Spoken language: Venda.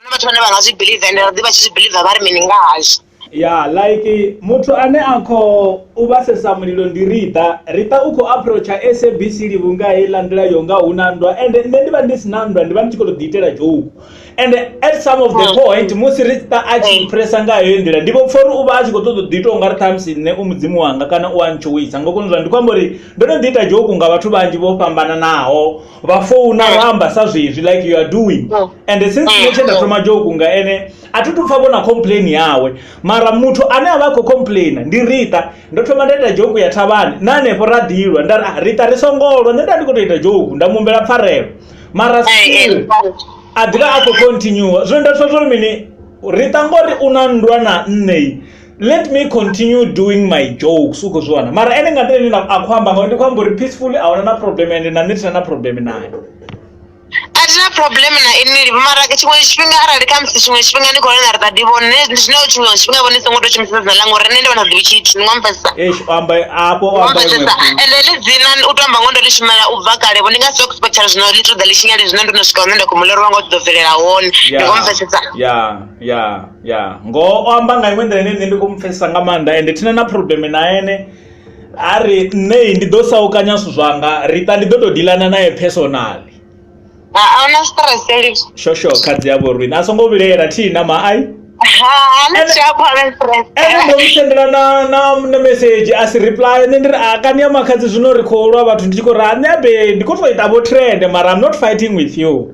na vhathu vhane vha nga zwi believe ende ra ḓi vha tshi zwi believe vha ri mini nga hazwo ya like muthu ane a kho u vhasesa mulilo ndi riḓa riḓa u khou approacha sabc livhunga heiḽa nḓila yo nga hu na nndwa ende nṋe ndi vha ndi si na nndwa ndi vha ndi tshi khou to ḓi itela dzhoku ende at some of the mm. point musi riḓa a tshi mm. phresa nga heyo nḓila ndi vho pfa uri u vha a tshi khou ṱoḓa ḓi ita unga ri ṱhamusi nṋe u mudzimu wanga kana u a ntshoweisa ngo koni zwa ndi khou amba uri ndo no ḓi ita dzhoku nga vhathu vhanzhi vho fhambananaho vha founa vha amba sa zwezwi like you are doing mm. and since nṋe tshe nda thoma joke nga ene a thi tu pfa vhona complain yawe mara muthu ane a vha khou complaina ndi rita ndo thoma nda ita joke ya thavhani na hanefho ra ḓilwa nda ah, rita ri songolwa nṋe nda ndi khou tou ita joke nda mumbela pfarelo mara still a ḓivha a khou continua zwino nda pfa zwo mini rita ngori u na nndwa na nṋei let me continue doing my jokes u khou zwi wana mara ene nga nḓila ine a khou amba ngauri ndi khou amba uri peacefully a huna na problem ende na nṋe thina na problem naye a thi na problem na ini mara tshiṅwe tshifhinga arali kha musi tshiṅwe tshifhinga ni khou lena ri ṱaḓi vhone zwino tshiṅwe tshifhinga vhone songo tou shumisa dzina langa uri nṋe ndi vhona ḓivhi tshithu ni ngwamfesa eish u amba afho u amba iṅwe ngwamfesa fhungo. ende ḽi dzina u tou amba ngo ndo ḽi shumela u bva kale vho ndi nga si tou expectela zwino ḽi ṱoḓa ḽi tshinyale zwino ndo no swika hune nda khou mu ḽerwa nga u ḓo bvelela hone ndi Yeah. ngwamfesesa ya ya ya ngoho o amba nga iṅwe nḓila ine nṋe ndi khou mu pfhesesa nga maanḓa ende thina na problem na ene a ri nṋe ndi ḓo saukanya zwithu zwanga rita ndi ḓo tou dilana naye personally ahuna stress elivs shosho khadzi ya vhorwini a songo vhilela thihi na maai ene ndo mu sendela na na na message a si reply nṋe ndi ri a kani ya makhadzi zwino ri khou lwa vhathu ndi tshi khou ri a nṋe abe ndi khou tou ita vho trend mara i'm not fighting with you